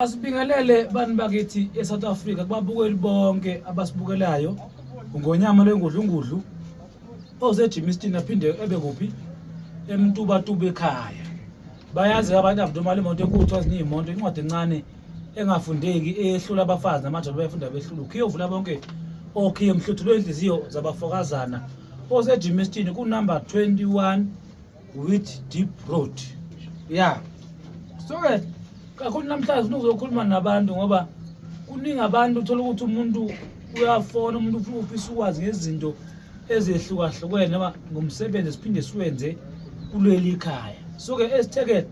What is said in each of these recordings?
Asibingelele bantu bakithi eSouth Africa kubabukeli bonke abasibukelayo ngonyama lwengudlungudlu oseGimiston aphinde ebe kuphi emtubatuba ekhaya bayazi abantu avudumala imoto enkulu kuthiwa ziningi imoto incwadi encane engafundeki ehlula abafazi namadoda bayafunda behlula ukhiye ovula bonke okhiye mhluthulwe inhliziyo zabafokazana oseGimiston kunumber 21 with deep road ya so ke kakhulu namhlanje ufuna uzokhuluma nabantu ngoba kuningi abantu uthola ukuthi umuntu uyafona umuntu ufuna ufisa ukwazi ngezinto ezehlukahlukene noma ngomsebenzi siphinde siwenze kuleli khaya so ke esithekele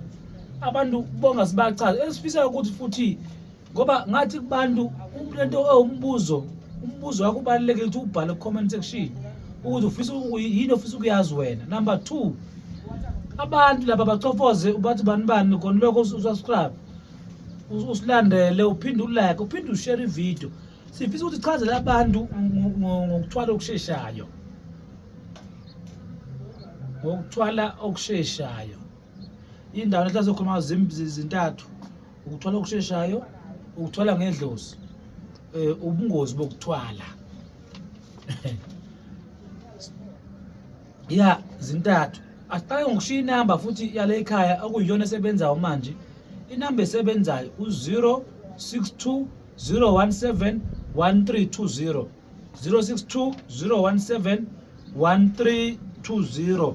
abantu bonga sibachaze esifisa ukuthi futhi ngoba ngathi kubantu lento ewumbuzo umbuzo wakho ubalulekile ukuthi ubhale ku-comment section ukuthi ufisa yini ofisa ukuyazi wena number two abantu laba bacofoze ubathi bani bani khona lokho usubscribe usilandele uphinde ulike uphinde ushare ividiyo sifisa ukuthi chazele abantu ngokuthwala okusheshayo ngokuthwala okusheshayo indawo lethi azokhuluma zintathu ukuthwala okusheshayo ukuthwala ngedlozi eh, ubungozi bokuthwala ya zintathu asiqale ngokushiya inamba futhi yale ekhaya okuyiyona esebenzayo manje inamba esebenzayo u-062 017 1320 062 017 1320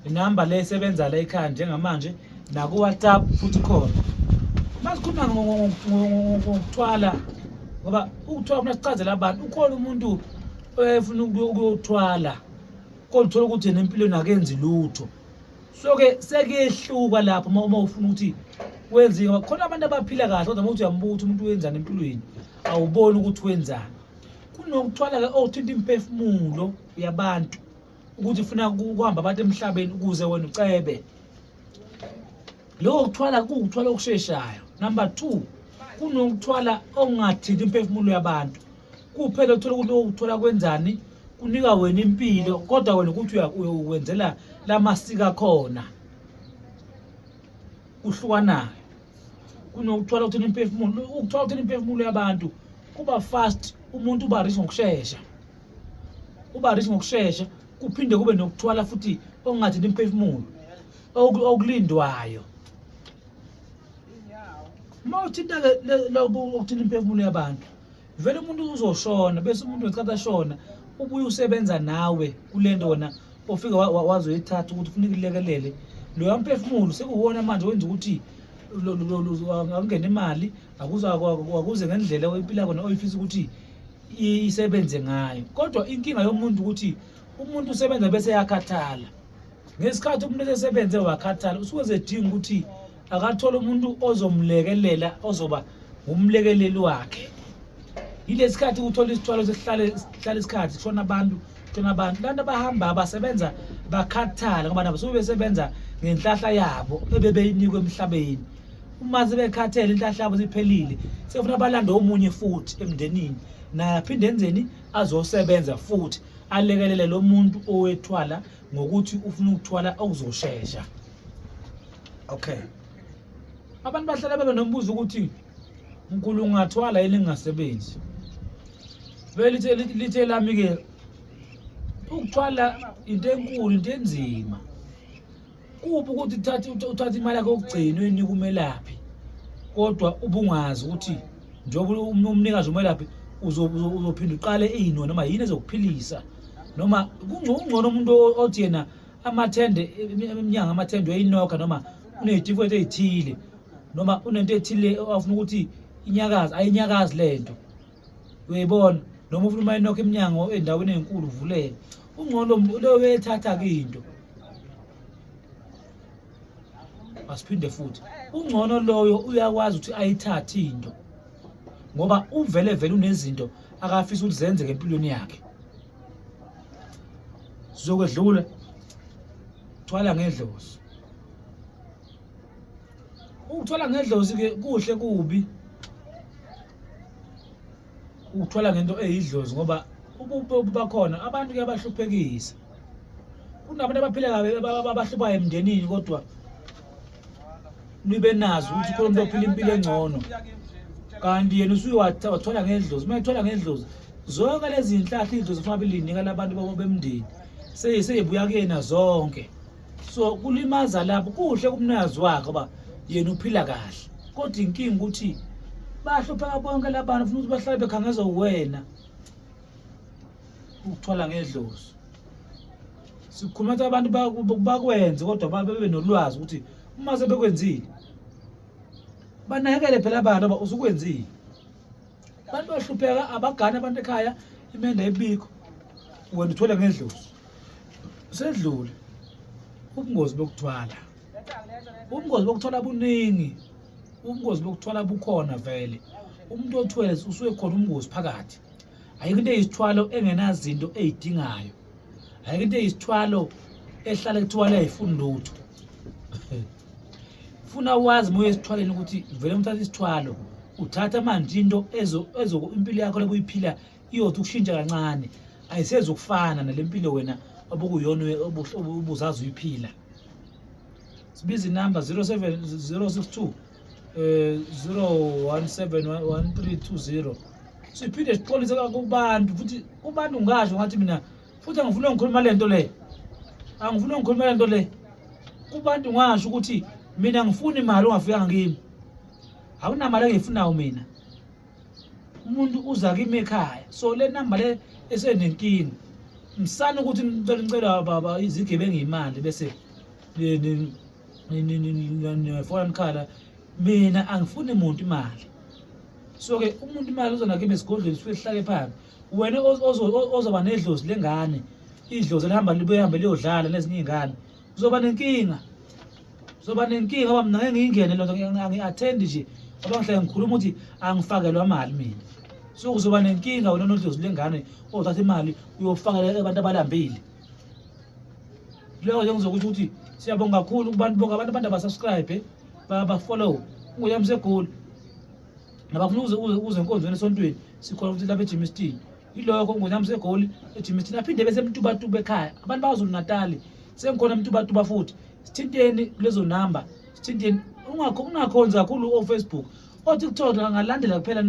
inamba le esebenza la ekhaya njengamanje nakuwhatsapp futhi khona masikhuluma ngokuthwala ngoba ukuthwala funa sichazela abantu ukhona umuntu efuna ukuyothwala kodwa uthola ukuthi yena empilweni akenzi lutho so-ke sekuyehluka lapho uma ufuna ukuthi wenziwe khona abantu abaphila kahle kodwa uma uthi uyambuka ukuthi umuntu wenzani empilweni awuboni ukuthi wenzani kunokuthwala ke othinta oh, imphefumulo yabantu ukuthi ufuna ukuhamba abantu emhlabeni ukuze wena ucebe lokho kuthwala kuwukuthwala okusheshayo number two kunokuthwala okungathinti imphefumulo yabantu kuphela uthola ukuthi okuthola kwenzani kunika wena impilo kodwa wena ukuthi uyokwenzela lamasika khona kuhlukanayo kunokuthwala ukuthina imphefumulo ukuthwala ukuthina imphefumulo yabantu kuba fast umuntu uba rich ngokushesha uba rich ngokushesha kuphinde kube nokuthwala futhi okungathini imphefumulo okulindwayo uma uthinta-ke lokhu okuthina imphefumulo yabantu vele umuntu uzoshona bese umuntu wesikhathi ashona ubuye usebenza nawe kule nto wena ofike wazoyithatha ukuthi ufuna ikulekelele loya mphefumulo sekuwona manje wenza ukuthi akungena imali akuze ngendlela oyiphila kona oyifisa ukuthi isebenze ngayo kodwa inkinga yomuntu ukuthi umuntu usebenza bese yakhathala ngesikhathi umuntu esesebenze wakhathala usuke zedinga ukuthi akathole umuntu ozomlekelela ozoba ngumlekeleli wakhe yilesi khathi uthola isithwalo sesihlale sihlale isikhathi kushona abantu kushona abantu abantu abahamba basebenza bakhathala ngoba nabo suke besebenza ngenhlahla yabo ebebeyinikwe emhlabeni uma sebekhathele inhlahla yabo siphelile sefuna balande omunye futhi emndenini naye aphinde enzeni azosebenza futhi alekelele lo muntu owethwala ngokuthi ufuna ukuthwala okuzoshesha okay abantu bahlala bebe nombuzo ukuthi mkhulu ungathwala yini ngingasebenzi belithe lithe lami ke ukuthwala into enkulu into enzima kuphi ukuthi uthathe uthathe imali yakho yokugcina uyinika umelaphi kodwa ubungazi ukuthi njengoba umnikazi umelaphi uzophinda uqale iyino noma yini ezokuphilisa noma kungcono umuntu othi yena amathende emnyango amathende uyayinokha noma uney'tifiketi ey'thile noma unento ethile afuna ukuthi inyakazi ayinyakazi le nto uyayibona noma ufuna uma inokho iminyango endaweni enkulu uvuleke ungcono leyo uyayithatha kinto asiphinde futhi ungcono loyo uyakwazi ukuthi ayithathe into ngoba uvele vele unezinto akafisa ukuthi zenzeke empilweni yakhe sizokwedlula thwala ngedlozi ukuthwala ngedlozi ke kuhle kubi ukuthwala ngento eyidlozi ngoba ububi bakhona abantu kuyabahluphekisa kunabantu abaphila kabi abahluphayo emndenini kodwa nibe nazi ukuthi khona umuntu ophila impilo engcono kanti yena usuye wathwala ngendlozi uma ethwala ngendlozi zonke lezi nhlahla idlozi fanele linika labantu babo bemndeni seyibuya kuyena zonke so kulimaza lapho kuhle kumnikazi wakhe uba yena uphila kahle kodwa inkinga ukuthi bahlupheka bonke labantu funa ukuthi bahlale bekhangeza uwena ukuthwala ngedlozi sikhuluma ukuthi abantu bakwenze kodwa babe nolwazi ukuthi uma sebekwenzile banakekele phela abantu aba usukwenzile abantu bahlupheka abagani abantu ekhaya imenda ebikho wena uthwele ngedlozi sedlule ubungozi bokuthwala ubungozi bokuthwala buningi ubungozi bokuthwala bukhona vele umuntu othwele usuke khona ubungozi phakathi ayikho into eyisithwalo engenazinto eyidingayo ayikho into eyisithwalo ehlale kuthiwa leyayifuni lutho funa wazi moya esithwaleni ukuthi vele umthatha isithwalo uthatha manje into ezo impilo yakho lokuyiphila iyothi ukushintsha kancane ayisezi ukufana nale mpilo wena obukuyona ubuzazi uyiphila sibiza inamba 062 01711320 siphinde sixolise kubantu futhi kubantu ngasho ngathi mina futhi angifuni ngikhuluma lento le angifuni ngikhuluma lento le kubantu ngasho ukuthi mina ngifuni imali ongafikanga kimi awunamali engiyifunayo mina umuntu uza kimi ekhaya so le namba le esenenkinga msana ukuthi ngicela ngicela baba izigebengu imali bese nefona nikhala mina angifuni muntu imali so-ke umuntu imali uzonakima esigodlweni sifike sihlale phambi wena ozoba nedlozi lengane idlozi elihamba libuye hambe liyodlala nezinye iy'ngane Uzoba nenkinga. Uzoba nenkinga ngoba mina ngeke ngiyingene lento ngi-attend nje. Ngoba ngihlale ngikhuluma ukuthi angifakelwa mali mina. So uzoba nenkinga wena nodlozi lengane othatha oh, imali uyofakela abantu abalambile. Leyo nje ngizokusho ukuthi siyabonga kakhulu kubantu bonke abantu abantu abasubscribe bafollow nguyamsegoli nabafuna uze uze enkonzweni esontweni sikhona futhi lapha ejimistin yilokho ngonyamisa egoli ejimi thina phinde bese mtubatuba ekhaya abantu bakwaZulu Natali sengikhona mtubatuba futhi sithinteni kulezo namba sithinteni ungakho ungakhonzi kakhulu ofacebook otiktok angalandela kuphela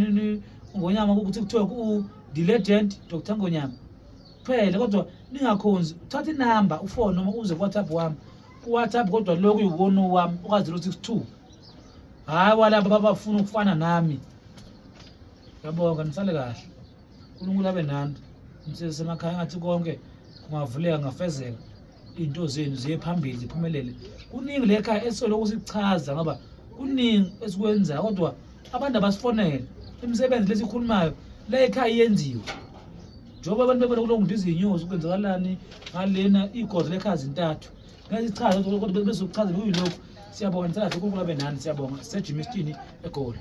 ngonyama kutiktok u-the legend dr ngonyama kuphela kodwa ningakhonzi uthatha inamba ufone noma uze kuwhatsapp wami kuwhatsapp kodwa lokhu yiwona wami uka-zero six two hhayi walaba babafuna ukufana nami Yabonga nisale kahle. uNkulunkulu abe nani. Umsebenzi semakhaya ngathi konke kungavuleka ngafezeka. Izinto zenu ziye phambili ziphumelele. Kuningi lekhaya esisoloko sichaza ngoba kuningi esikwenzayo kodwa abantu abasifonele imisebenzi lesikhulumayo la ekhaya yenziwe njengoba abantu bebona kulo muntu izinyosi kwenzakalani ngalena igozi lekhaya zintathu ngesichaza kodwa bezokuchaza kuyilokhu siyabonga ngisathi uNkulunkulu abe nani siyabonga sisejimistini egoli